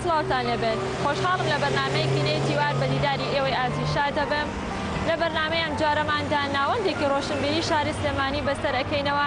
سڵاوتان لێبێت خۆشحاڵم لە بەرنمەیەکی نێ تیوار بە دیداری ئێوەی ئازی شا دەبم لە بەرنمەیە ئەم جارەماندا ناوەندێکی ڕۆشنبیری شاری سلێمانی بەسەر ئەەکەینەوە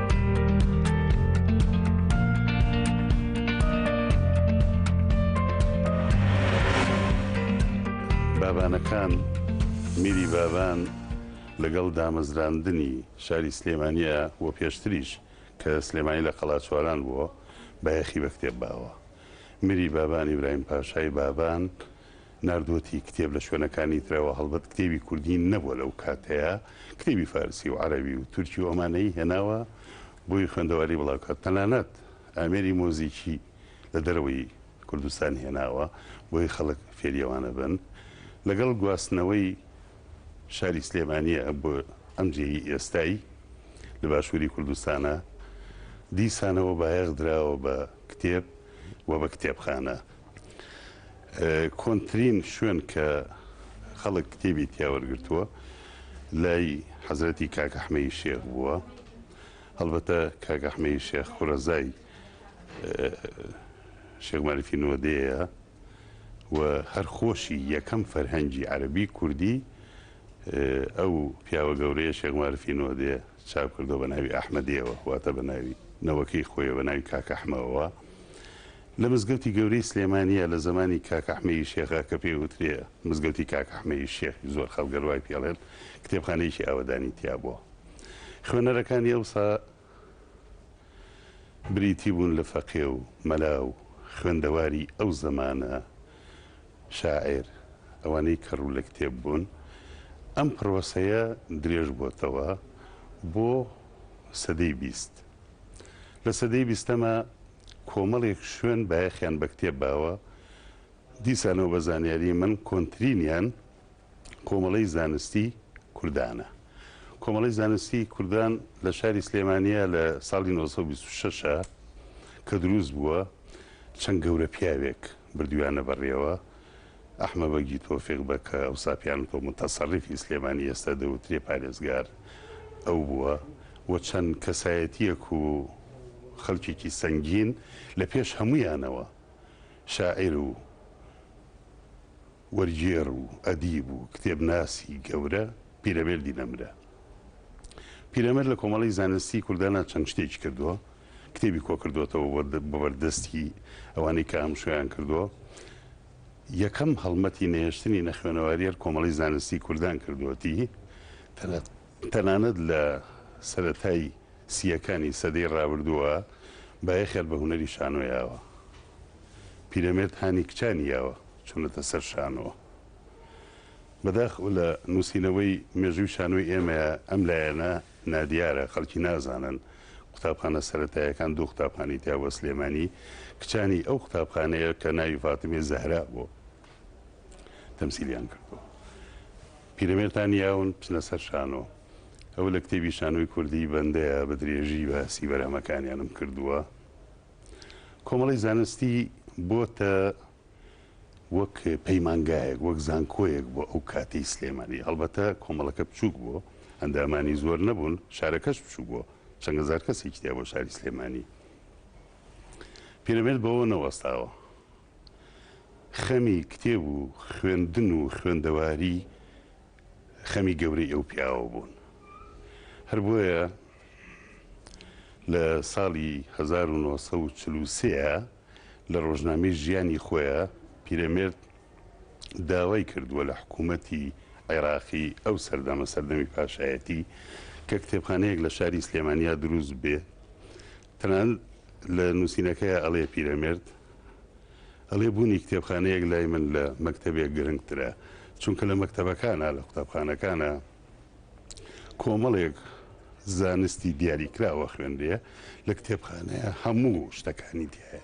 بابانەکان میری بابان لەگەڵ دامەزراندنی شاری سلێمانە و پێشتریش کە سلێمانی لە قەڵاچواران بووە بایەخی بە کتێب باوە میری بابانی برایم پاشای بابان ناردووەتی کتێب لە شوێنەکانی ترەوە، هەڵبەت کتێبی کوردی نەبووە لەو کاتەیا، کتێبی فارسی و عەرەبی و تورکی و ئەمانەی هێناوە بۆی خوێندەواری بڵاو کات، تەنانەت ئامێری مۆزیکی لە دەرەوەی کوردستان هێناوە بۆی خەڵک فێری ئەوانە بن، لەگەڵ گواستنەوەی شاری سلێمانیە بۆ ئەم جێی ئێستای لە باشووری کوردستانە، دیسانەوە بایەخ دراوە بە کتێب و بە کتێبخانە. کۆنترین شوێن کە خەڵک کتێبی تیا وەرگرتووە لای حەزرەتی کاک ئەحمەی شێخ بووە هەڵبەتە کاک ئەحمەی شێخ خورەزای شێخ مەریفی نۆدەیە و هەر خۆشی یەکەم فەرهەنگی عەربی کوردی ئەو پیاوە گەورەیە شێخ مەرفی نۆدەیە چاپ کردووە بە ناوی ئەحمەدییەوە، واتە بە ناوی نەوەکەی خۆیەوە بە ناوی کاک ئەحمەوە، لە مزگەوتی گەورەی سلێمانییە لە زەمانی کاک ئەحمەیی شێخە کە پێی وترێ مزگەوتی کاک ئەحمەیی شێخی زۆر خەڵک گەر وای پێڵێن کتێبخانەیەکی ئاوەدانی تیا بووە خوێنەرەکانی ئەوسا بریتی بوون لە فەقێ و مەلا و خوێندەواری ئەو زەمانە شاعیر، ئەوانەی کە ڕوو لە کتێب بوون، ئەم پڕۆسەیە درێژ بۆتەوە بۆ سەدەی بیست. لە سەدەی بیستەما کۆمەڵێک شوێن بایەخیان بە کتێب باوە، دیسانەوە بە زانیاریی من کۆنترینیان کۆمەڵەی زانستی کوردانە. کۆمەڵەی زانستی کوردان لە شاری سلێمانییە لە ساڵی نۆ سەد و بیست و شەش کە دروست بووە، چەند گەورە پیاوێک بردویانە بەڕێوە، ئەحمە بەگی تۆفیق بەگ کە ئەوسا پێیان وتوە موتەسەڕیفی سلێمانی ئێستا دەوترێ پارێزگار ئەو بووە و چەند کەسایەتیەک و خەلکێکی سەنگین لە پێش هەموویانەوە شاعیر و وەرگێڕ و ئەدیب و کتێبناسی گەورە پیرەمێردی نەمرە پیرەمێرد لە کۆمەڵەی زانستی کوردانا چەند شتێکی کردوە کتێبی کۆکردۆتەوە بەبەردەستی ئەوانەی کە ئامشۆیان کردووە یەکەم هەڵمەتی نەهێشتنی نەخوێنەواریەر کۆمەڵی زانستی کوردان کردوەتی تەنانەت لە سەتای سیەکانی سەدەی ڕابردووە بایەخێر بە هونەری شانۆ یاوە پیرەمێرد هانی کچانی یاوە چونەتە سەر شانۆوە بەداخ لە نووسینەوەی مێژووی شانۆی ئێمەیە ئەم لایەنە نادیارە، خەڵکی نازانن قوتابخانە سەرەتاییەکان دوو قوتابخانەی تیا بووە سلێمانی، کچانی ئەو قوتابخانەیە کە ناوی فاتمەی زەهرا بوو تەمسیلیان کردووە. پیرەمێردتان یاون بچنە سەر شانۆ. ئەوە لە کتێبی شانۆی کوردی بەندەیە بە درێژی باسی بەرهەمەکانیانم کردووە. کۆمەڵەی زانستی بۆتە وەک پەیمانگایەک، وەک زانکۆیەک بۆ ئەو کاتەی سلێمانی. هەڵبەتە کۆمەڵەکە بچووک بوو، ئەندامانی زۆر نەبوون، شارەکەش بچووک بوو، چەند هەزار کەسێکی تیا بوو شاری سلێمانی. پیرەمێرد بەوە نەوەستاوە خەمی کتێب و خوێندن و خوێندەواری خەمی گەورەی ئەو پیاوە بوون. هەر بۆیە لە ساڵی هەزار و نۆ سەد و چل و سێ. لە ڕۆژنامەی ژیانی خۆیا پیرەمێرد داوای کردووە لە حکوومەتی عێراقی ئەو سەردەمە، سەردەمی پاشایەتی، کە کتێبخانەیەک لە شاری سلێمانیا دروست بێ. تەنانەت لە نووسینەکەیا ئەڵێ پیرەمێرد ئەڵێ بوونی کتێبخانەیەک لای من لە مەکتەبێک گرنگترە، چونکە لە مەکتەبەکانا، لە قوتابخانەکانا، کۆمەڵێک زانستی دیاریکراوە خوێندێ لە کتێبخانەیە هەموو شتەکانی دیایە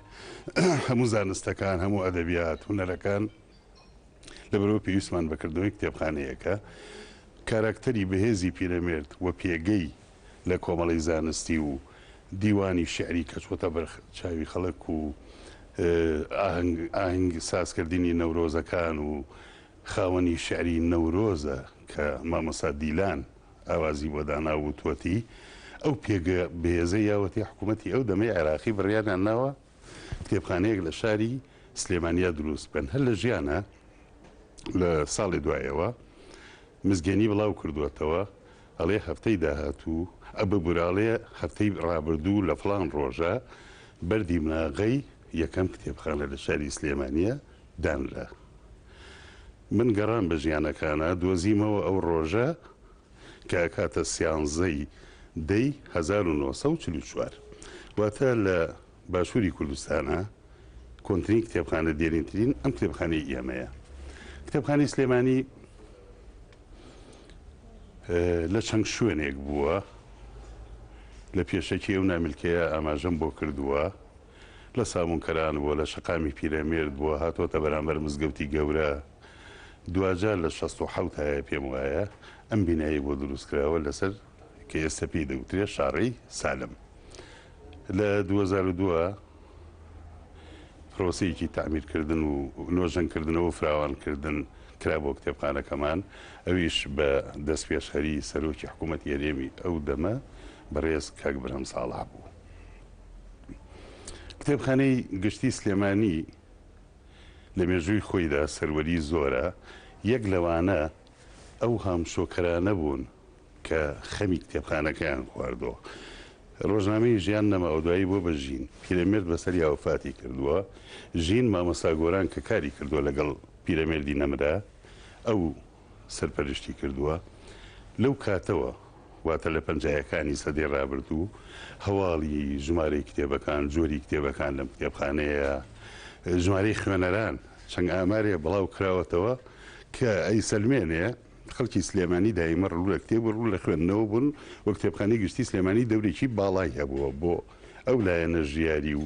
هەموو زانستەکان هەموو ئەدەبیات هوەرەکان لە بەرەوە پێویستمان بەکردنەوەی کتێبخانەیەەکە کاراکتەری بەهێزی پیرەمێرد و پێگەی لە کۆمەڵی زانستی و دیوانی شعری کە چۆتە بەر چاوی خەڵک و ئاهنگ سازکردنی نەورۆزەکان و خاوەنی شعری نەورۆزە کە مامۆستا دیلان ئاوازی بۆ داناو وتووەتی، ئەو پێگە بەهێزەی یاوەتی حکوومەتی ئەو دەمەی عێراقی بڕیاریان ناوە کتێبخانەیەک لە شاری سلێمانیا درووست بکەن، هەر لە ژیانە لە ساڵێ دوایەوە مزگێنی بڵاو کردووەتەوە ئەڵێ هەفتەی داهاتوو ئە ببورە ئەڵێ هەفتەی ڕابردوو لە فڵان ڕۆژە بەردی مناغەی یەکەم کتێبخانە لە شاری سلێمانیە دانرا. من گەڕام بە ژیانەکانا دۆزیمەوە ئەو ڕۆژە کە ئەکاتە سیانزەی دەی هەزار و نۆ سەد و چل و چوار واتە لە باشووری کوردستانا کۆنترین کتێبخانە دێرینترین ئەم کتێبخانەی ئێمەیە کتێبخانەی سلێمانی لە چەند شوێنێک بووە لە پێشەکی ئەو نامیلکەیە ئاماژەم بۆ کردووە لە سابونکەران بووە، لە شەقامی پیرەمێرد بووە، هاتۆتە بەرامبەر مزگەوتی گەورە، دواجار لە شەست و حەوت هایە پێم وایە ئەم بینایەی بۆ دروست کراوە لەسەر کە ئێستا پێی دەوترێ شاڕێی سالم لە دوو هەزار و دوو پرۆسەیەکی تەعمیر کردن و نۆژەن کردنەوە و فراوان کردن کرا بۆ کتێبخانەکەمان ئەویش بە دەستپێشخەری سەرۆکی حکوومەتی هەرێمی ئەو دەمە بەڕێز کاک برهەم ساڵح بوو. کتێبخانەی گشتی سلێمانی لە مێژووی خۆیدا سەروەری زۆرە، یەک لەوانە ئەو هامشۆکەرانە بوون کە خەمی کتێبخانەکەیان خواردووە. ڕۆژنامەی ژیان نەماوە دوایی بووە بە ژین، پیرەمێرد بەسەریا وەفاتی کردووە، ژین مامۆستا گۆران کە کاری کردووە لەگەڵ پیرەمێردی نەمرە، ئەو. سەرپەرشتی کردووە، لەو کاتەوە واتە لە پەنجایەکانی سەدەی ڕابردوو هەواڵی ژمارەی کتێبەکان، جۆری کتێبەکان لەم کتێبخانەیە، ژمارەی خوێنەران چەند ئامارێ بڵاو کراوەتەوە کە ئەیسەلمێنێ خەڵکی سلێمانی دایمە ڕوو لە کتێب و ڕوو لە خوێندنەوە بوون و کتێبخانەی گشتی سلێمانی دەورێکی باڵای هەبووە بۆ ئەو لایەنە ژیاری و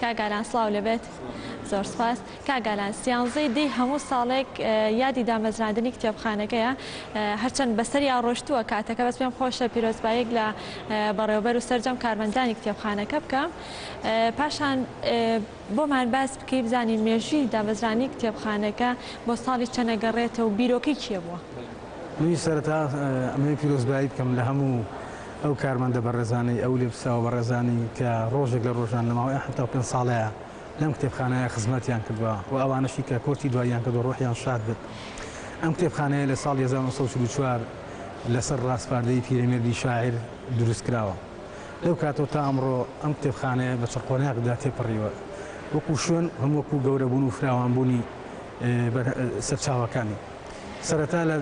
کاک ئالان سڵاو لێبێت زۆر سوپاس کاک ئالان سیانزەی دی هەموو ساڵێک یادی دامەزراندنی کتێبخانەکەیە هەرچەند بەسەریا ڕۆشتووە کاتەکە بەس پێم خۆشە پیرۆزبایەک لە بەڕێوبەر و سەرجەم کارمەندانی کتێبخانەکە بکەم پاشان بۆمان باس بکەی بزانین مێژوی دامەزرانی کتێبخانەکە بۆ ساڵی چەنەگەڕێتە و بیرۆکەی کێ بووە؟ منی سەرتا ئەمەوێ پیرۆزبایی بکەم لە هەموو ئەو کارمەندە بەڕێزانەی، ئەو لێپرسراوە بەڕێزانەی کە ڕۆژێک لە ڕۆژان لە ماوەی ئەم حەفتا و پێنج ساڵەیا لەم کتێبخانەیە خزمەتیان کردوە و ئەوانەشی کە کۆچی دواییان کردوە ڕۆحیان شاد بێت. ئەم کتێبخانەیە لە ساڵی هەزار و نۆ سەد و چل و چوار لەسەر ڕاسپاردەی پیرەمێردی شاعیر دروست کراوە. لەو کاتەوە تا ئەمڕۆ ئەم کتێبخانەیە بە چڕقۆناغدا تێپەڕیوە وەکو شوێن، هەم وەکو گەورەبوون و فراوانبوونی سەرچاوەکانی. سەرەتا لە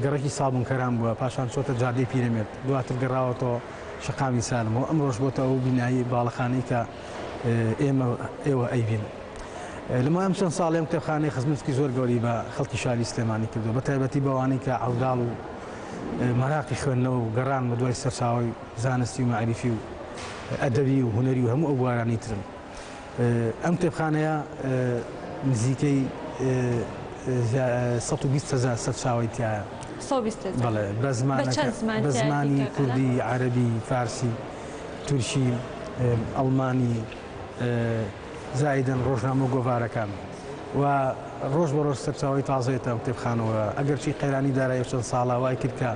گەڕەکی سابونکەران بووە، پاشان چۆتە جادەی پیرەمێرد، دواتر گەڕاوەتەوە شەقامی سالم و ئەمڕۆش بۆتە ئەو بینایەی باڵەخانەی کە ئێمە و ئێوە ئەیبین. لەمای ئەم چەند ساڵەی ئەم کتێبخانەی خزمەتکی زۆر گەوری بە خەڵکی شاری سلێمانی کردووە بە تایبەتی بەوانەی کە عەوداڵ و مەراقی خوێندنەوە و گەڕان بە دوای سەرچاوەی زانستی و مەعریفی و ئەدەبی و هونەری و هەموو ئەو بوارانەی ترن. ئەم کتێبخانەیە نزیکەی سەد و بیست هەزار سەرچاوەی تایە سەد و بیست هەزار. بەڵێ، بە زمانەکە- بە چەند زمان بە تایە زمانی دیکەکانە؟ کوردی، عەرەبی، فارسی، تورکی، ئێ، ئەڵمانی، ئێ، زایدەن ڕۆژنامە و گۆڤارەکان. و ڕۆژ بە ڕۆژ سەرچاوەی تازە یەتە ئەم کتێبخانەوە. ئەگەرچی قەیرانی دارایی چەند ساڵە وای کرد کە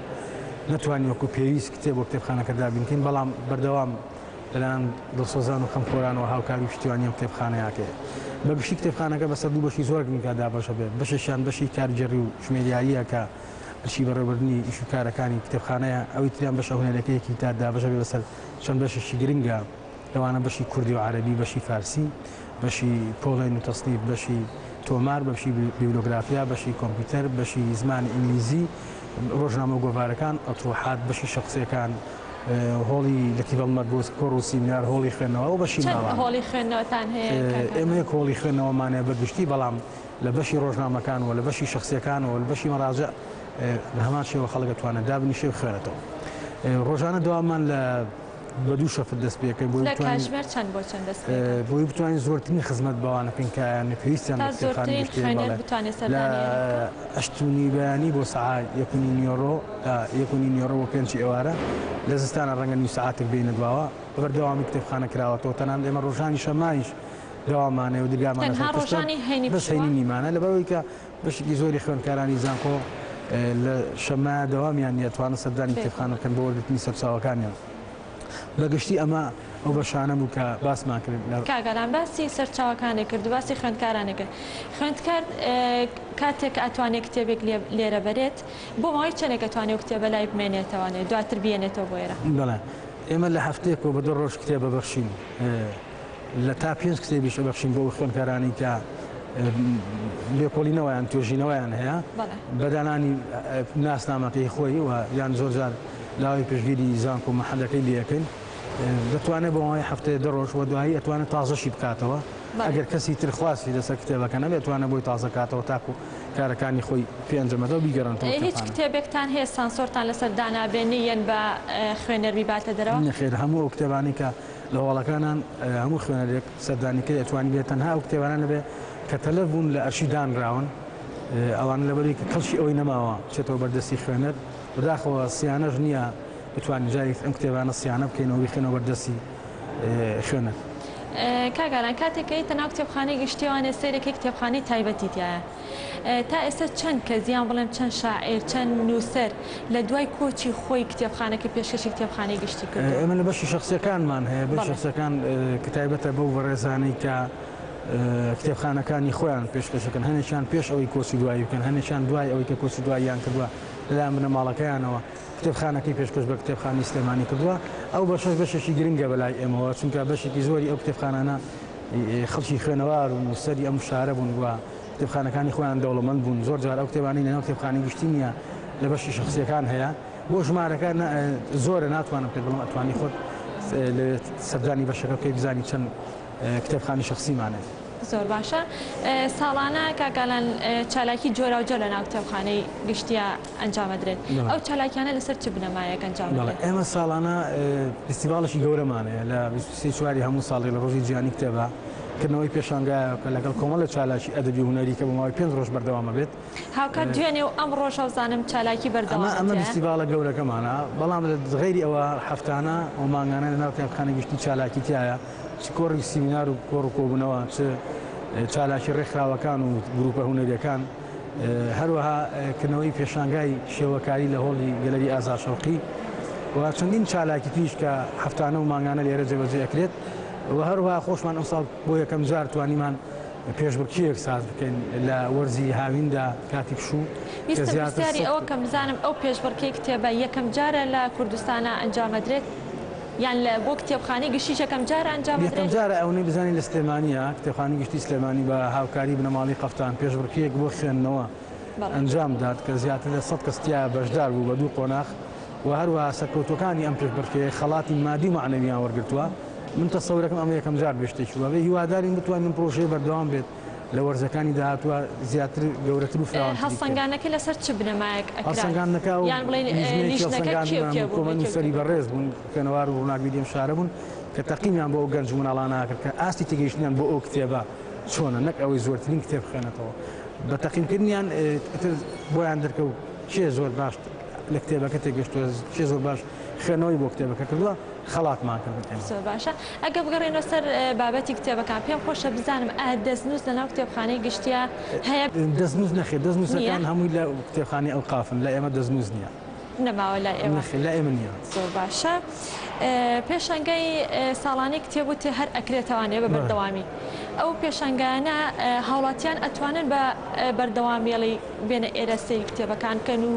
نەتوانین وەکوو پێویست کتێب بۆ کتێبخانەکە دابین کەین بەڵام بەردەوام لەلایەن دڵسۆزان و خەمخۆرانەوە هاوکاری و پشتیوانی ئەم کتێبخانەیە کرێت. بە گشتی کتێبخانەکە بەسەر دوو بەشی زۆر گرنگدا دابەش ئەبێت، بەشێکیان بەشی کارگێڕی و ژمێریارییە کە ئەرکی بەڕێوەبردنی ئیش و کارەکانی کتێبخانەیە، ئەوی تریان بەشە هونەریەکەیەکی کە دابەش ئەبێت بەسەر چەند بەشێکی گرنگا لەوانە بەشی کوردی و عەرەبی، بەشی فارسی، بەشی پۆڵێن و تەسنیف، بەشی تۆمار، بەشی بیبلۆگرافیا، بەشی کۆمپیوتەر، بەشی زمانی ئینگلیزی، ڕۆژنامە و گۆڤارەکان، ئەتڕوحات، بەشی شخسیەکان، هۆڵی لە کیڤڵ مەرگۆس کۆڕ و سیمینار هۆڵی خوێندنەوە بەشی ماوە هۆڵی خوێندنەوەتان هەیە ئێمە یەک هۆڵی خوێندنەوەمانەیە بە گشتی بەڵام لە بەشی ڕۆژنامەکانەوە لە بەشی شخصیەکانەوە لە بەشی مەراجە لە هەمان شێوە خەڵگە توانێت دابنیشێ و خوێنێتەوە ڕۆژانە دوامان لە بە دوو شەفت دەست پێکەین بۆ کاژمێر چەند بۆ چەند دەست بۆی بتوانین زۆرترین خزمەت بەوانە پێنکایان پێویستیان بەخانشتێنێتانی بەیانی بۆ سعات یەکونی نیۆرۆ تا یەک و نیو نیوەڕۆ بۆ پێنچی ئێوارە لە زستانا ڕەنگە نیو سەعاتێک بێینە دواوە، بە بەردەوامی کتێبخانە کراوەتەوە، تەنانەت ئێمە ڕۆژانی شەممایش دەوامانەیە و دەرگامان لەسەر قفلە، بەس هەینی نیمانە، لەبەرئەوەی کە بەشێکی زۆری خوێندکارانی زانکۆ لە شەممایە دەوامیان نییە توانن سەردانی کتێبخانە بکەن بۆ وەرگرتنی سەرچاوەکانیان، بە گشتی ئەمە ئەو بەشانە بوو کە باسمان کرد. کاک ئالان باسی سەرچاوەکانی کرد و باسی خوێندکارانی کرد، خوێندکار کاتێک ئەتوانێت کتێبێک لێرە بەرێت، بۆ ماوەی چەنێک ئەتوانێ ئەو کتێبە لای بمێنێتەوە نێ دواتر بیێنێتەوە بۆ ئێرە؟ بەڵێ ئێمە لە هەفتەیەکەوە بە دوو ڕۆژ کتێب ئەبەخشین لە تا پێنج کتێبیش ئەبەخشین بۆ ئەو خوێندکارانی کە لێکۆڵینەوەیان توێژینەوەیان هەیە بەڵێ بەدانانی ناسنامەکەی خۆی و یان زۆرجار لاوەی پشگیری زانکۆ محەلەکەی لەکەین دەتوانێت بۆ ماوەی هەفتەیە دە ڕۆژ وە دوایی ئەتوانێت تازەشی بکاتەوە بەڵێ. ئەگەر کەسی تر خواستی لەسەر کتێبەکە نەبێت توانە بۆی تازە کاتەوە تاکو کارەکانی خۆی پێ ئەنجام ئەدا و بیگەڕێنێتەوە کتێبخانە. هیچ کتێبێکتان هەیە سانسۆرتان لەسەر دانابێنی یەن بە خوێنەر بیباتە دەرەوە؟ نەخێر هەموو ئەو کتێبانەی کە لە هەواڵەکانان هەموو خوێنەرێک سەردانی کەی ئەتوانی بێت تەنها ئەو کتێبانە نەبێت کە تەلەف بوون لە ئەرشی دانراون ئەوانە لەبەرەوەی کە کەڵکی ئەوەی نەماوە بچێتەوە بەر دەستی خوێنەر بەداخەوە سیانەش نییە بتوانین جارێک ئەم کتێبانە سیانە بکەینەوە بیخەینەوە بەر دەستی خوێنەر. کاک ئارام کاتێک کە یتە ناو کتێبخانەی گشتی ئەوانێ سەیرێکی کتێبخانەی تایبەتی تیایە تا ئێستا چەند کەس یان بڵێم چەند شاعیر چەند نووسەر لە دوای کۆچی خۆی کتێبخانەکە پێشکەشی کتێبخانەی گشتی کردووە؟ ئێمە لە بەشی شەخسیەکانمان هەیە بەشی شەخسیەکان کە تایبەتە بەو بەڕێزانەی کە کتێبخانەکانی خۆیان پێشکەش دەکەن هەنێکیان پێش ئەوەی کۆچی دوایی بکەن هەنێکیان دوای ئەوەی کە کۆچی دواییان کردووە لەلایەن بنەماڵەکەیانەوە کتێبخانەکەی پێشکەش بە کتێبخانەی سلێمانی کردووە، ئەو بەشەش بەشێکی گرنگە بەلای ئێمەوە، چونکە بەشێکی زۆری ئەو کتێبخانانە خەڵکی خوێنەوار و نووسەری ئەم شارە بوون و کتێبخانەکانی خۆیان دەوڵەمەند بوون، زۆر جار ئەو کتێبانەی لەناو کتێبخانەی گشتی نییە لە بەشی شەخسییەکان هەیە، بۆ ژمارەکە زۆرە ناتوانم پێت بڵێم، ئەتوانی خۆت لەوێ سەردانی بەشەکە بکەی بزانی چەند کتێبخانەی شەخسیمانە. زۆر باشە، ساڵانە کاک ئالان چالاکی جۆراوجۆر لەناو کتێبخانەی گشتییە، ئەنجامەدرێت ئەو چالاکیانە لەسەر چ بنەمایەک ئەنجام ئەدرێت؟ ئێمە ساڵانە فیستیڤاڵێکی گەورەمان هەیە لە بیست و سێ چواری هەموو ساڵی لە ڕۆژی جیهانی کتێبا کردنەوەی پێشانگایەکە لەگەڵ کۆمەڵە چالاکی ئەدەبی و هونەری کە بۆ ماوەی پێنج ڕۆژ بەردەوام ئەبێت هاوکات دوێنێ و ئەم ڕۆژە و زانم چالاکی بەردەوامە ئەمە ئەمە فیستیڤاڵە گەورەکەمانە بەڵام لە غەیری ئەوە هەفتانە و مانگانە لە ناو قوتابخانەی گشتی چالاکی تایە چ کۆڕی سیمینار و کۆڕ و کۆبوونەوە چ چالاکی ڕێکخراوەکان و گرووپە هونەریەکان هەروەها کردنەوەی پێشانگای شێوەکاری لە هۆڵی گەلەری ئازاد شەوقی و چەندین چالاکی تریش کە هەفتانە و مانگانە لێرە جێبەجێ ئەکرێت و هەروەها خۆشمان ئەمساڵ بۆ یەکەم جار توانیمان پێشبڕکێیەک ساز بکەین لە وەرزی هاویندا کاتی پشوو کە زیاتر ئەوە کەم بزانم ئەو پێشبڕکێ کتێبە یەکەم جارە لە کوردستانە ئەنجامەدرێت؟ یان لە بۆ کتێبخانەی گشتیش یەکەم جارە ئەنجام ئەدرێت؟ یەکەم جارە ئەونەی بزانین لە سلێمانیە کتێبخانەی گشتی سلێمانی بە هاوکاری بنەماڵەی قەفتان پێشبڕکێیەک بۆ خوێندنەوە ئەنجام دات کە زیاتر لە سەد کەس تیایا بەشدار بوو بە دوو قۆناخ و هەروەها سەرکەوتوەکانی ئەم پێشبڕکێیە خەڵاتی مادی و مەعنەویان وەرگرتوە من تەسەورەکەم ئەمە یەکەم جار بێ شتێکی وابێ هیوادارین بتوانین ئەم پرۆژەیە بەردەوام بێت. لە وەرزەکانی داهاتووە زیاتر گەورەتر و فراوانتری بکەین. هەڵسەنگاندنەکە لەسەر چ بنەمایەک ئەکرا؟ هەڵسەنگاندنەکە ئەو لیژنەیە کێ و کێ بوون؟ کۆمەڵ نووسەری بەڕێز بوون، خوێنەوار و ڕووناکبیری ئەم شارە بوون کە تەقینیان بۆ ئەو گەنج و مناڵانە ئەکرد کە ئاستی تێگەیشتنیان بۆ ئەو کتێبە چۆنە نەک ئەوەی زۆرترین کتێب بخوێنێتەوە. بە تەقینکردنیان ئیتر بۆیان دەرکەوت کێ زۆر باش لە کتێبەکە تێگەشتووە، کێ زۆر باش خوێندنەوەی بۆ کتێبەکە کردووە. خەڵاتمان کرد بە پێنج. زۆر باشە ئەگەر بگەڕێینەوە سەر بابەتی کتێبەکان پێم خۆشە بزانم ئایا دەستنووس لە ناو کتێبخانەی گشتییە هەیە؟ دەستنووس نەخێر دەستنووسەکان هەمووی لە کتێبخانەی ئەوقافن لای ئێمە دەستنووس نییە. نەماوە لای ئێوە؟ نەخێر لای ئێمە نییە. زۆر باشە پێشەنگای ساڵانەی کتێب وتت هەر ئەکرێتەوانێ بە بەردەوامی ئەو پێشەنگایانە هاوڵاتیان ئەتوانن بە بەردەوامیی بێنە ئێرە سەیری کتێبەکان کەن و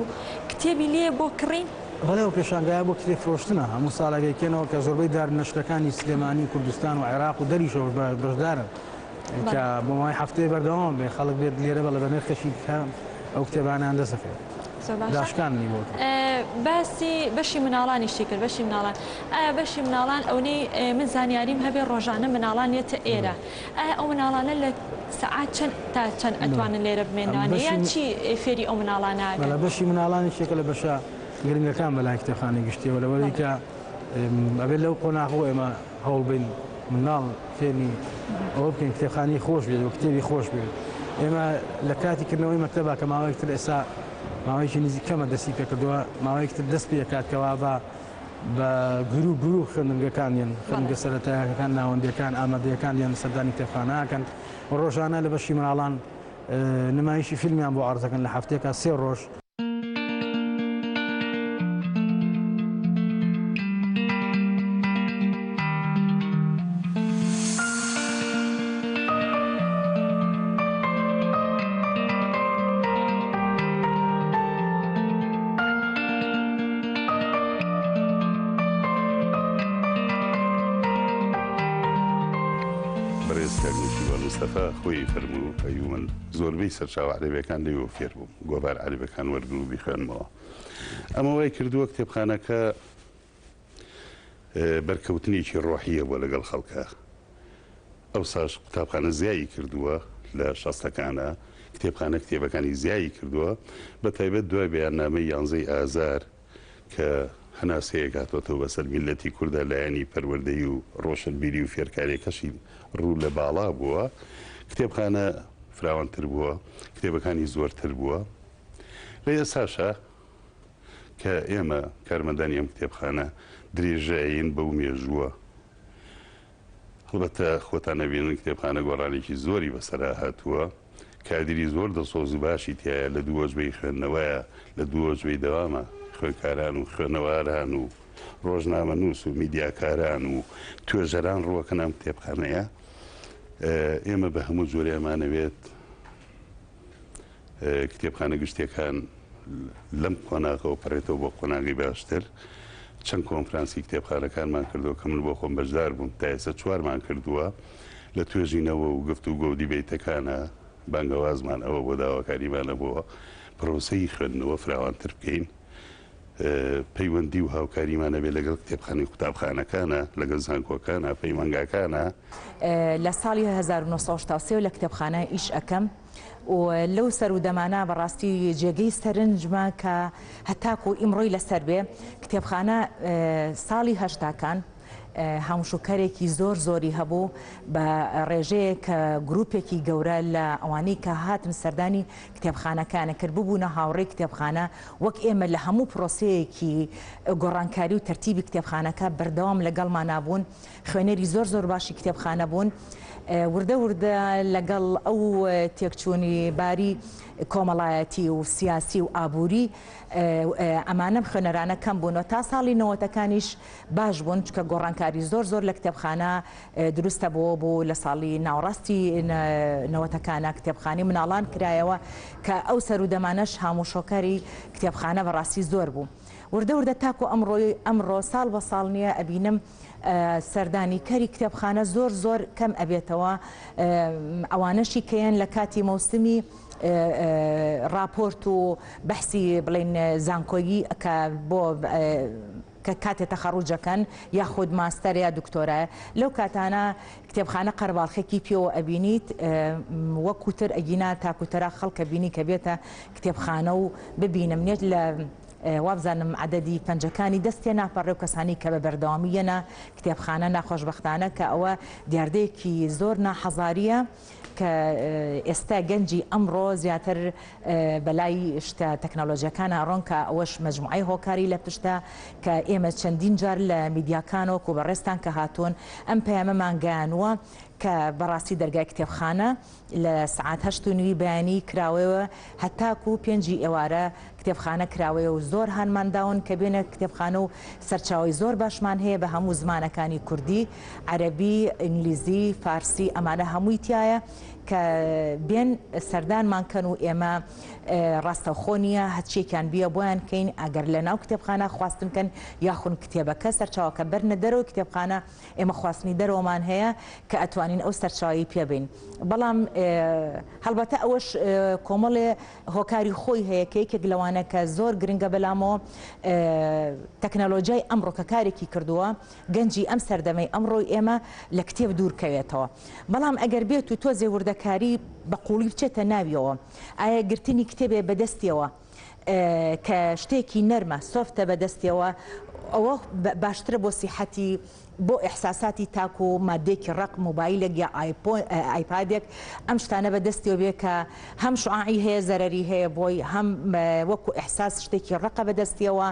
کتێبی لێ بۆ کڕین بەڵێ ئەو پێشانگایە بۆ کتێب فرۆشتنە، هەموو ساڵێک ئەیکەنەوە کە زۆربەی دار نەشرەکانی سلێمانی و کوردستان و عێراق و دەریشەوەش بەشدارن کە بۆ ماوەی هەفتەیە بەردەوام ئەبێت خەڵک بێت لێرە بە بەنرخێکی کەم ئەو کتێبانەیان دەست ئەکەوێت. زۆر باشە. داشکاندنی بۆ کرد. باسی بەشی مناڵانیشی کرد بەشی مناڵان ئایا بەشی مناڵان ئەونەی من زانیاریم هەبێ ڕۆژانە مناڵان یەتە ئێرە ئایا ئەو مناڵانە لە سەعات چەند تا چەند ئەتوانن لێرە بمێننەوانێ یان چی فێری ئەو مناڵانە ئەکەن؟ بەڵێ بەشی مناڵانی شێکە لە بەشە گرنگەکان بەلای کتێبخانەی گشتیەوە لەوەری کە ئەبێت لەو قۆناغەوە ئێمە هەوڵ بین مناڵ فێرنی ئەوە بکەین کتێبخانی خۆش بێت و کتێبی خۆش بێت ئێمە لە کاتی کردنەوەی مەکتەبا کە ماوەیەکتر ئێستا ماوەیەکی نزیک کەمە دەستی پێکردووە ماوەیەکتر دەست پێکات کەوا بە بە گروو گروو خوێندنگەکان یەن، خوێندنگە سەرەتایەکەکان، ناوەندییەکان، ئامادەیەکان یەن سەردانی کتێبخانە ئەکەن و ڕۆژانە لە بەشی مناڵان نمایشی فیلمیان بۆ عەرز ئەکەن لە هەفتەیەکا سێ ڕۆژ. بەڕێز کاک نێچیروان مستەفا خۆی فەرموو، ئەی من زۆربەی سەرچاوە عەرەبیەکان لێیەوە فێر بووم، گۆڤار عەرەبەکان وەرگرم و بیخوێنمەوە. ئەمە وای کردووە کتێبخانەکە بەرکەوتنێکی ڕۆحییە بۆ لەگەڵ خەڵکە. ئەوساش قوتابخانە زیایی کردووە لە شەستەکانا کتێبخانە کتێبەکانی زیایی کردووە بە تایبەت دوای بەیاننامەی یانزەی ئازار کە هەناسەیەک هاتۆتەوە بەسەر میللەتی کوردا لایەنی پەروەردەی و ڕۆشنبیری و فێرکاریەکەشی ڕوو لە باڵا بووە کتێبخانە فراوانتر بووە کتێبەکانی زۆرتر بووە لە ئێساشا کە ئێمە کارمەندانی ئەم کتێبخانە درێژەین بەو مێژووە هەڵبەتە خۆتان ئەبینن کتێبخانە گۆڕانێکی زۆری بەسەرا هاتووە، کادیری زۆر دڵسۆز و باشی تیایە، لە دوو وەجبەی خوێندنەوەیە، لە دوو وەجبەی دەوامە، خوێندکاران و خوێنەواران و ڕۆژنامەنووس و میدیاکاران و توێژەران ڕووەکەن ئەم کتێبخانەیە، ئێمە بە هەموو جۆرێ ئەمانەوێت. کتێبخانە گشتیەکان لەم قۆناغەوە پەڕێتەوە بۆ قۆناغی باشتر چەند کۆنفرانسی کتێبخانەکانمان کردو کە من بۆ خۆم بەشدار بووم تا ئێستا چوارمان کردووە لە توێژینەوە و گفت و گۆدی بیتەکانە بانگەوازمان ئەوە بۆ داواکاریمانە بۆ پرۆسەی خوێندنەوە فراوانتر بکەین پەیوەندی و هاوکاریمان هەبێت لەگەڵ کتێبخانەی قوتابخانەکانە لەگەڵ زانکۆکانە پەیمانگاکانە لە ساڵی 1970 لە کتێبخانە ئیش ئەەکەم و لەو سەر و دەمانە بەڕاستی جێگەی سەرنجمە کە هەتاکو ئیمڕۆی لەسەر بێ کتێبخانە ساڵی هەشتاکان هەموشوکەرێکی زۆر زۆری هەبوو بە ڕێژەیەک کە گروپێکی گەورە لە ئەوانەی کە هاتن سەردانی کتێبخانەکانە کرد ببوونە هاوڕێی کتێبخانە وەک ئێمە لە هەموو پرۆسەیەکی گۆڕانکاری و تەرتیبی کتێبخانەکە بەردەوام لەگەڵمان نابوون خوێنەری زۆر زۆر باشی کتێبخانە بوون وردە وردە لەگەڵ ئەو تێکچوونی باری کۆمەڵایەتی و سیاسی و ئابووری ئەمانەم خوێنەرانە کەم بوونەوە تا ساڵی نەوەتەکانیش باش بوون چکە گۆڕانکاری زۆر زۆر لە کتێبخانە دروستە بۆ بۆ لە ساڵی ناوەڕاستی نەوەتەکانە کتێبخانی مناڵان کرایەوە کە ئەو سەرودەمانەش هاموشۆکاری کتێبخانە بەڕاستی زۆر بوو وردە وردە تاکو ئەمڕۆی ئەمڕۆ ساڵ بە ساڵ نییە ئەبینم سەردانی کەری کتێبخانە زۆر زۆر کەم ئەبێتەوە ئەوانەشی کەیەن لە کاتی مەوسمی راپۆرت و بەحسی بڵین زانکۆیی کە بۆ کە کاتێ تەخەڕوجەکەن یاخود ماستەر یا دکتۆرایە لەو کاتانە کتێبخانە قەرەباڵخێکی پێوە ئەبینیت وەکو تر ئەگینا تاکو تەرا خەڵکە بینی کە بێتە کتێبخانە و ببینم نێت لە وابزانم عددی پەنجەکانی دەستێ ناپەڕێ و کەسانی کە بە بەردەوامی یەنە کتێبخانە ناخۆشببختانە کە ئەوە دیاردەیەکی زۆر ناحەزاریە. کە ئێستا گەنجی ئەمڕۆ زیاتر بەلای شتە تەکنەلۆجیەکانە ئەڕۆن کە ئەوەش مەجموعەی هۆکاری لە پشتە کە ئێمە چەندین جار لە میدیاکان وەکو بەڕێزتان کە هاتوون ئەم پەیامەمان گەیانووە کە بەڕاستی دەرگای کتێبخانە لە سەعات هەشت و نیوی بەیانی کراوەیەوە هەتاکو پێنجی ئێوارە کتێبخانە کراوەیە و زۆر هانمان داون کە بێنە کتێبخانە و سەرچاوەی زۆر باشمان هەیە بە هەموو زمانەکانی کوردی، عەرەبی، ئینگلیزی، فارسی ئەمانە هەمووی تیایە کە بێن سەردانمان کەن و ئێمە ڕاستەوخۆ نییە هەچیەکیان بیە بۆیان کەین ئەگەر لە ناو کتێبخانە خواستن کەن یاخون کتێبەکە سەرچاوەکە بەرنە دەرەوەی کتێبخانە ئێمە خواستنی دەرەوەمان هەیە کە ئەتوانین ئەو سەرچاوەی پێ بین بەڵام هەڵبەتە ئەوەش کۆمەڵێ هۆکاری خۆی هەیە کە یەکێک لەوانە کە زۆر گرنگە بەلامۆ تەکنەلۆجیای ئەمڕۆ کە کارێکی کردووە گەنجی ئەم سەردەمەی ئەمڕۆی ئێمە لە کتێب دوورکەوێتەوە بەڵام ئەگەر بێت و تۆزێ وردەکاری بە قوڵی بچێتە ناویەوە ئایا گرتنی کتێبێ بەدەستیەوە کە شتێکی نەرمە سۆفتە بەدەستیەوە ئەوە باشترە بۆ سیحەتی بۆ ئیحساساتی تاک و ماددێکی ڕەق مۆبایلێک یا ئایپادێک ئەم شتانە بە دەستیەوە بێ کە هەم شوعاعی هەیە زەرەری هەیە بۆی هەم وەکو ئیحساس شتێکی ڕەقە بە دەستیەوە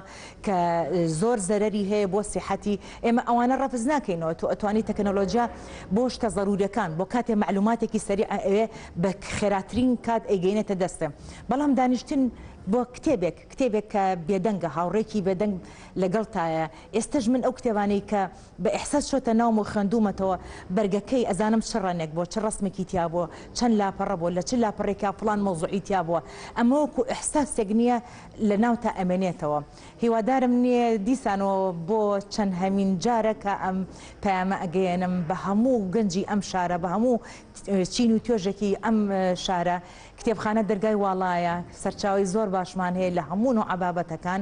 کە زۆر زەرەری هەیە بۆ سیحەتی ئێمە ئەوانە ڕەفز ناکەینەوە تۆ ئەتوانی تەکنەلۆجیا بۆ شتە زەرورەکان بۆ کاتێ معلوماتێکی سەری ئەوێ بە خێراترین کات ئەیگەینێتە دەستێ بەڵام دانیشتن بۆ کتێبێک کتێبێک کە بێدەنگە هاوڕێکی بێدەنگ لەگەڵ تایە ئێستەش من ئەو کتێبانەی کە بە ئیحساس چۆتە ناوم و خوێندوومەتەوە بەرگەکەی، ئەزانم چ ڕەنێک بووە، چ ڕەسمێکی تیا بووە، چەند لاپەڕە بووە، لە چ لاپەڕێکا فڵان مەوزوعی تیا بووە. ئەمە وەکوو ئیحساسێک نییە لە ناوتا ئەمێنێتەوە. هیوادارم نییە دیسانەوە بۆ چەندهەمین جارە کە ئەم پەیامە ئەگەیەنم بە هەموو گەنجی ئەم شارە، بە هەموو چین و توێژێکی ئەم شارە. کتێبخانە دەرگای واڵایە، سەرچاوەی زۆر باشمان هەیە لە هەموو نووعە بابەتەکان.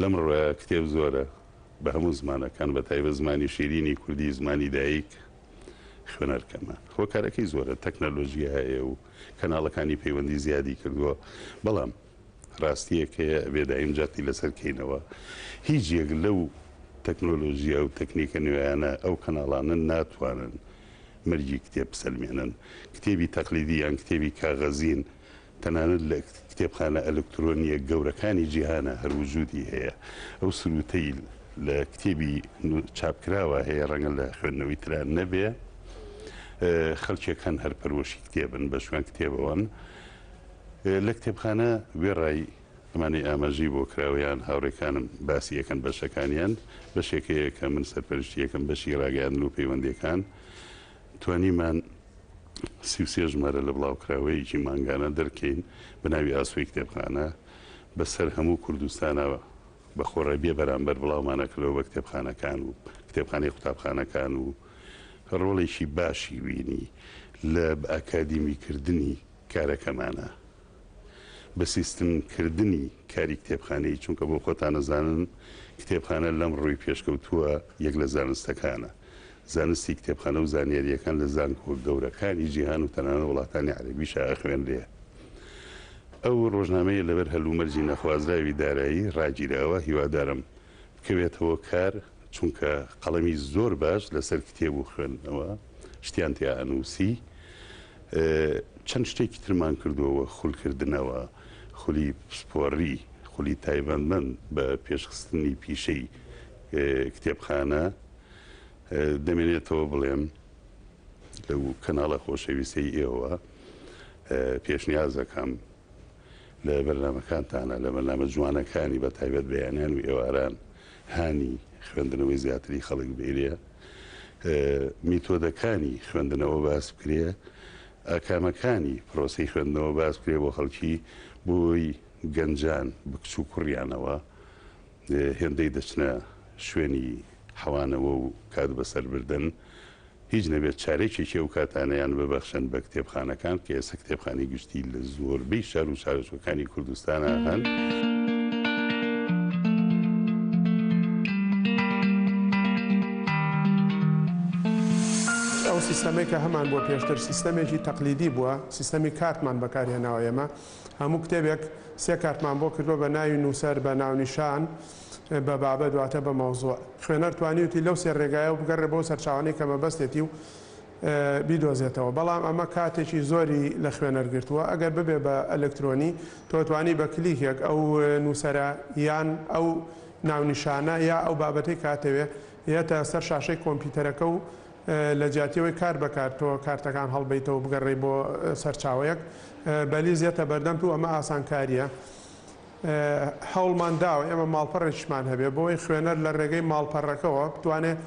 لەم ڕووە کتێب زۆرە بە هەموو زمانەکان بە تایبەت زمانی شیرینی کوردی زمانی دایک خوێنەر کەمە هۆکارەکەی زۆرە تەکنەلۆژیا هەیە و کەناڵەکانی پەیوەندی زیادی کردووە بەڵام ڕاستیەکەیە ئەبێ دایم جەختی لەسەر کەینەوە هیچ یەک لەو تەکنۆلۆژیا و تەکنیکە نوێیانە ئەو کەناڵانە ناتوانن مەرجی کتێب بسەلمێنن کتێبی تەقلیدی یان کتێبی کاغەزین تەنانەت لە کتێبخانە ئەلکترۆنییە گەورەکانی جیهانا هەر وجودی هەیە. ئەو سرووتەی لە کتێبی چاپکراوا هەیە، ڕەنگە لە خوێندنەوەی ترا نەبێ. خەڵکێک هەن هەر پەروەشی کتێبن، بە شوێن کتێبەوەن. لە کتێبخانە وێڕای ئەمانەی ئاماژەی بۆ کراوە یان هاوڕێکانم باسی ئەکەن بەشەکانیان، بەشێک هەیە کە من سەرپەرشتی ئەکەم، بەشی ڕاگەیاندن و پەیوەندییەکان. توانیمان سی و سێ ژمارە لە بڵاوکراوەیەکی مانگانە دەرکەین بە ناوی ئاسۆی کتێبخانە بە سەر هەموو کوردستانا بە خۆڕای بێ بەرامبەر بڵاومان ئەکردەوە بە کتێبخانەکان و کتێبخانەی قوتابخانەکان و ڕۆڵێکی باشی بینی لە بە ئەکادیمی کردنی کارەکەمانا. بە سیستم کردنی کاری کتێبخانەیی، چونکە بۆ خۆتان ئەزانن کتێبخانە لەم ڕووی پێشکەوتووە یەک لە زانستەکانە، زانستی کتێبخانە و زانیارییەکان لە زانکۆ گەورەکانی جیهان و تەنانەت وڵاتانی عەرەبیشا ئەخوێنرێ. ئەو ڕۆژنامەیە لەبەر هەلومەرجی نەخوازراوی دارایی ڕاگیراوە، هیوادارم. بکەوێتەوە کار، چونکە قەڵەمی زۆر باش لەسەر کتێب و خوێندنەوە شتیان تیا ئەنووسی. چەند شتێکی ترمان کردووە وەک خولکردنەوە، خولی پسپۆڕی، خولی تایبەتمەند بە پێشخستنی پیشەی کتێبخانە. دەمێنێتەوە بڵێم لەو کەناڵە خۆشەویستەی ئێوە پێشنیاز ئەکەم، لە بەرنامەکانتانە لە بەرنامە جوانەکانی بە تایبەت بەیانیان و ئێواران هانی خوێندنەوەی زیاتری خەڵک بێریە میتۆدەکانی خوێندنەوە باس بکرێ ئاکامەکانی پرۆسی خوێندنەوە باس بکرێ بۆ خەڵکی بۆی گەنجان بکچ و کوڕیانەوە هێندەی دەچنە شوێنی حەوانەوە و کات بەسەر بردن هیچ نەبێت چارەکێکی ئەو کاتانەیان ببەخشن بە کتێبخانەکان، کە ئێستا کتێبخانەی گشتی لە زۆربەی شار و شارۆچکەکانی کوردستانا هەن. ئەو سیستەمەی کە هەمان بووە پێشتر سیستەمێکی تەقلیدی بووە سیستەمی کارتمان بەکارهێناوە ئێمە هەموو کتێبێک سێ کارتمان بۆ کردووە بە ناوی نووسەر بە ناونیشان بە بابەت واتە بە مەوزوع. خوێنەر توانیوتی لەو سێ رێگایەوە بگەڕێ بەو سەرچاوانەی کە مەبەستێتی و بیدۆزێتەوە. بەڵام ئەمە کاتێکی زۆری لە خوێنەر گرتووە. ئەگەر ببێ بە ئەلکترۆنی، تۆ توانی بە کلیکێک ئەو نووسەرە یان ئەو ناونیشانە یا ئەو بابەتەی کە ئەتەوێ یەتە سەر شاشەی کۆمپیوتەرەکە و لە جیاتی ئەوەی کارت بە کارت تۆ کارتەکان هەڵبەیتەوە و بگەڕێی بۆ سەرچاوەیەک، بەلیز یەتە بەردەمت و ئەمە ئاسانکارییە. هەوڵمان داوە ئێمە ماڵپەڕێکیشمان هەبێت بۆ ئەوەی خوێنەر لە رێگەی ماڵپەڕەکەوە بتوانێت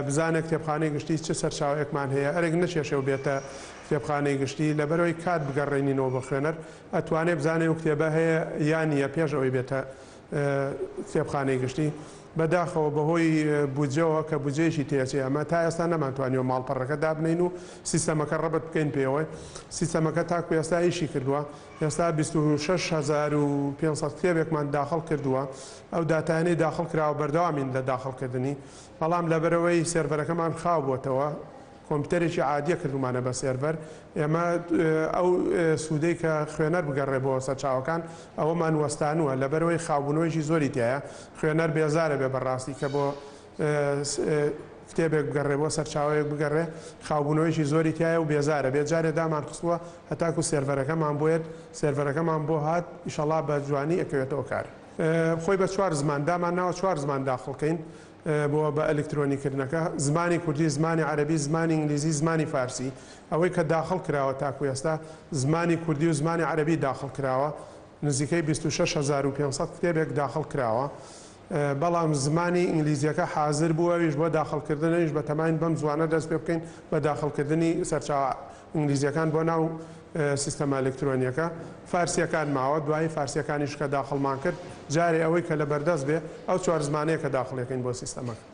بزانێت کتێبخانەی گشتی چ سەرچاوەیەکمان هەیە ئەرک نەکێشێ و بێتە کتێبخانەی گشتی لەبەر ئەوەی کات بگەڕێنینەوە بۆ خوێنەر ئەتوانێت بزانێت ئەو کتێبە هەیە یا نییە پێش ئەوەی بێتە کتێبخانەی گشتی بەداخەوە بەهۆی بودجەوە کە بودجەیەکی تێچێ ئەمە تا ئێستا نەمانتوانیەوە ماڵپەڕەکە دابنین و سیستەمەکە ڕەبت بکەین پێوەی سیستەمەکە تاکو ئێستا ئیشی کردووە ئێستا بیست و شەش هەزار و پێنج سەد کتێبێکمان داخڵ کردووە، ئەو داتایانەی داخڵ کراوە بەردەوامین لە داخڵکردنی، بەڵام لەبەرئەوەی سێرڤەرەکەمان خاو بۆتەوە، کۆمپیوتەرێکی عادییە کردوومانە بە سێرڤەر، ئێمە ئەو سوودەی کە خوێنەر بگەڕێ بۆ سەرچاوەکان ئەوەمان وەستانووە، لەبەرئەوەی خاوبوونەوەیەکی زۆری تیایە، خوێنەر بێزارەبێ بەڕاستی کە بۆ کتێبێک بگەڕێ بۆ سەرچاوەیەک بگەڕێ خاوبوونەوەیەکی زۆری تایە و بێزارە بێت جارێ دامان خستووە هەتاکو سێرڤەرەکەمان بۆێت سێرڤەرەکەمان بۆ هات ئیشەڵا بە جوانی ئەکەوێتەوە کار خۆی بە چوار زمان دامان ناوە چوار زمان داخڵکەین بۆ بە ئەلکترۆنی کردنەکە زمانی کوردی زمانی عەربی زمانی ئینگلیزی زمانی فارسی ئەوەی کە داخڵ کراوە تاکو ئێستا زمانی کوردی و زمانی عەربی داخڵ کراوە نزیکەی 26 هزار و 500 کتێبێک داخڵ کراوە بەڵام زمانی ئینگلیزیەکە حازر بوو ئەویش بۆ داخڵ کردن ئەویش بە تەماین بەم زوانە دەست پێ بکەین بە داخڵ کردنی سەرچاوە ئینگلیزیەکان بۆ ناو سیستەمە ئەلکترۆنیەکە فارسیەکان ماوە دوایی فارسیەکانیش کە داخڵمان کرد جارێ ئەوەی کە لە بەردەست بێ ئەو چوار زمانەیە کە داخڵیەکەین بۆ سیستەمەکە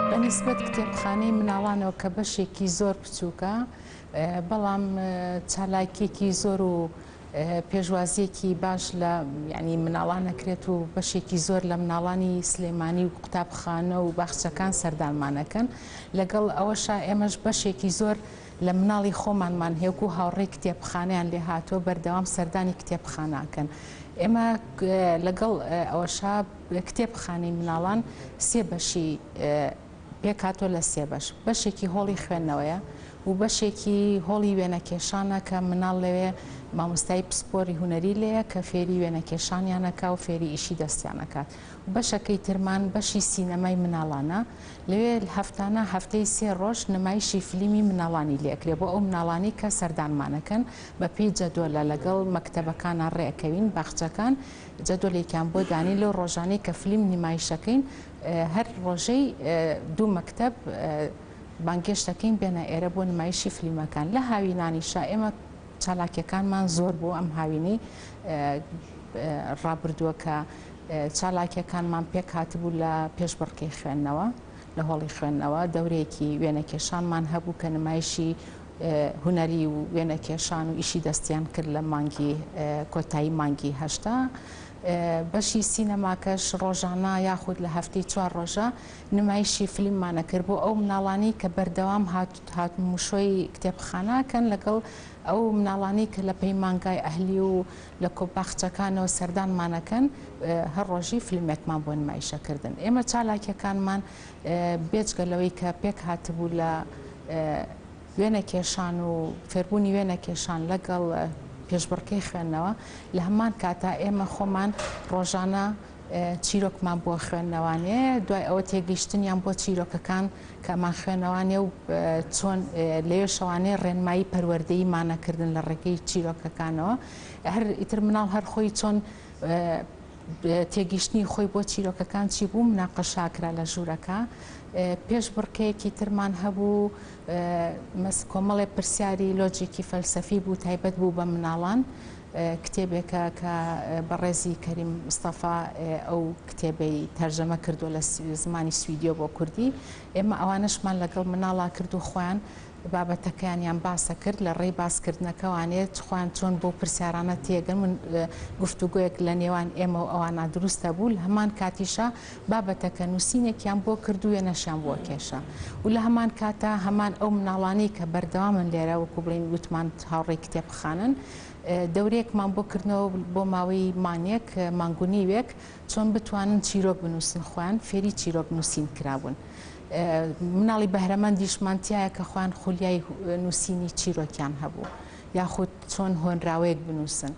بە نیسبەت کتێبخانەی مناڵانەوە کە بەشێکی زۆر بچووکە بەڵام چالاکیەکی زۆر و پێشوازیەکی باش لە یانی مناڵان ئەکرێت و بەشێکی زۆر لە مناڵانی سلێمانی و قوتابخانە و باخچەکان سەردانمان ئەکەن لەگەڵ ئەوەشا ئێمەش بەشێکی زۆر لە مناڵی خۆمانمان هێک و هاوڕێی کتێبخانەیان لێ هاتووە بەردەوام سەردانی کتێبخانە ئەکەن ئێمە لەگەڵ ئەوەشا کتێبخانەی مناڵان سێ بەشی پێکهاتووە لە سێ بەش، بەشێکی هۆڵی خوێندنەوەیە و بەشێکی هۆڵی وێنەکێشانە کە مناڵ لەوێ مامۆستای پسپۆری هونەری لێیە کە فێری وێنەکێشانیان ئەکا و فێری ئیشی دەستیان ئەکات و بەشەکەی ترمان بەشی سینەمای مناڵانە لەوێ هەفتانە هەفتەی سێ ڕۆژ نمایشی فلیمی مناڵانی لێ ئەکرێ بۆ ئەو مناڵانەی کە سەردانمان ئەکەن بە پێی جەدۆلە لەگەڵ مەکتەبەکانا ڕێ ئەکەوین باخچەکان جەدۆلێکیان بۆ دانین لەو ڕۆژانەی کە فلیم نمایش ئەکەین هەر ڕۆژەی دوو مەکتەب بانگێشت دەکەین بێنە ئێرە بۆ نمایشی فلیمەکان لە هاوینانیشا ئێمە چالاکیەکانمان زۆر بۆ ئەم هاوینەی ڕابردووە کە چالاکیەکانمان پێک هاتبوو لە پێش بڕکەی خوێندنەوە لە هۆڵی خوێندنەوە دەورێکی وێنەکێشانمان هەبوو کە نمایشی هوەری و وێنەکێشان و ئیشی دەستیان کرد لە مانگی کۆتایی مانگی هەشتا بەشی سینەماکەش ڕۆژانە یاخود لە هەفتەی چوار ڕۆژە نمایشی فلیممان ئەکرد بۆ ئەو مناڵانەی کە بەردەوام هات هاتموشۆی کتێبخانە ئەکەن لەگەڵ ئەو مناڵانەی کە لە پەیمانگای ئەهلی و لە کۆ باخچەکانەوە سەردانمان ئەکەن هەر ڕۆژی فلیمێکمان بۆ نمایش ئەکردن ئێمە چالاکیەکانمان بێجگە لەوەی کە پێک هاتبوو لە وێنەکێشان و فێربوونی وێنەکێشان لەگەڵ پێشبڕکێی خوێندنەوە، لە هەمان کاتا ئێمە خۆمان ڕۆژانە چیرۆکمان بۆ خوێندنەوانێ، دوای ئەوە تێگەیشتنیان بۆ چیرۆکەکان کە ئەمان خوێندنەوانێ و چۆن لەوێشەوانێ ڕێنمایی پەروەردەیی مانە کردن لە ڕێگەی چیرۆکەکانەوە، هەر ئیتر مناڵ هەر خۆی چۆن تێگیشتنی خۆی بۆ چیرۆکەکان چی بوو مناقەشاکرا لە ژوورەکە، پێشبڕکێیەکی ترمان هەبوو، مەسک کۆمەڵێ پرسیاری لۆجیکی فەلسەفی بوو تایبەت بوو بە مناڵان کتێبێکە کە بەڕێزی کەریم مستەفا ئەو کتێبەی تەرجەمە کردو لە زمانی سویدیۆ بۆ کوردی ئێمە ئەوانشمان لەگەڵ مناڵا کرد و خۆیان بابەتەکەیانیان باسە کرد لە ڕێی باسکردنەکەوانێت خوان چۆن بۆ پرسیارانە تێگەن من گفتوگویەک لە نێوان ئێمە و ئەوانە دروستە بوو هەمان کاتیشە بابەتەکە نووسینێکیان بۆ کرد و وێنەشیان بۆ کێشا و لە هەمان کاتا هەمان ئەو مناڵانەی کە بەردەوامن لێرە وەکو بڵێین وتمان هاوڕێی کتێبخانەن دەورەیەکمان بۆ کردنەوە بۆ ماوەی مانگێک مانگونیوێک چۆن بتوانن چیرۆک بنووسن خۆیان فێری چیرۆک نووسین کرابوون مناڵی بەهرەمەندیشمان تایە کە خۆیان خولیای نووسینی چیرۆکیان هەبوو یاخود چۆن هۆنراوەیەک بنووسن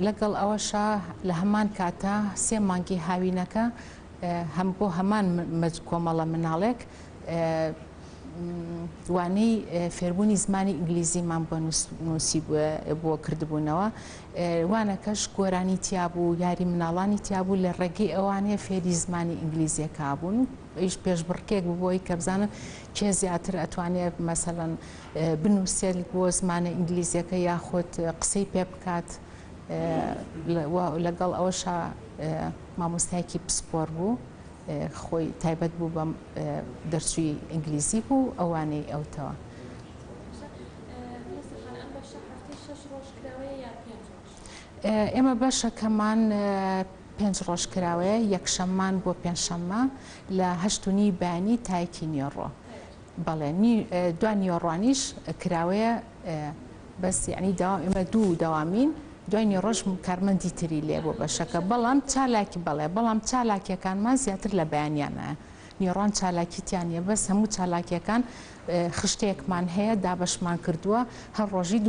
لەگەڵ ئەوەشا لە هەمان کاتا سێ مانگی هاوینەکە هەم بۆ هەمان کۆمەڵە مناڵێک وانەی فێربوونی زمانی ئینگلیزیمان بۆ نووسی بۆ کردبوونەوە وانەکەش گۆرانی تیابوو یاری مناڵانی تیابوو لە ڕێگەی ئەوانەیە فێری زمانی ئینگلیزیەکە بوون و ئیش پێشبڕکێک ببۆی کە بزانن کێ زیاتر ئەتوانێ مەسەلەن بنووسێت بۆ زمانە ئینگلیزیەکە یاخود قسەی پێ بکات لەگەڵ ئەوەشا مامۆستایکی پسپۆر بوو خۆی تایبەت بوو بەم دەرچووی ئینگلیزی بوو ئەوانەی ئەوتەوە. ئێمە بەشەکەمان پێنج ڕۆژ کراوەیە، یەکشەممان بۆ پێنجشەممە لە هەشت و نیوی بەیانی تا یەکی نیۆڕۆ. بەڵێ دوا نیۆڕۆانیش کراوەیە بەس یعنی داوام ئێمە دوو داوامین دوای نیۆڕۆش کارمەندی تری لێ بۆ بەشەکە بەڵام چالاکی بەڵێ بەڵام چالاکیەکانمان زیاتر لە بەیانیانە میڕان چالاکی تیا نیە بەس هەموو چالاکیەکان خشتەیەکمان هەیە دابەشمان کردووە هەر ڕۆژی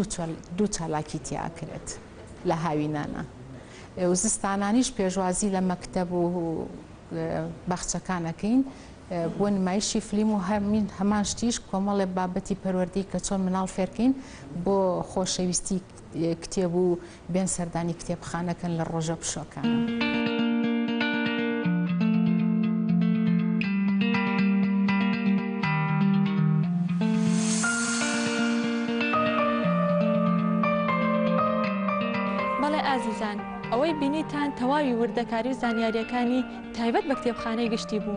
دوو چالاکی تیا ئەکرێت لە هاوینانە و زستانانیش پێشوازی لە مەکتەب و باخچەکان ئەکەین بۆ نمایشی فلیم و هەمین هەمان شتیش کۆمەڵێ بابەتی پەروەردەی کە چۆن مناڵ فێرکەین بۆ خۆشەویستی کتێب و بێن سەردانی کتێبخانە کەن لە ڕۆژە پشۆکانە. ئەوەی بینیتان تەواوی وردەکاری و زانیارییەکانی تایبەت بە کتێبخانەی گشتی بوو.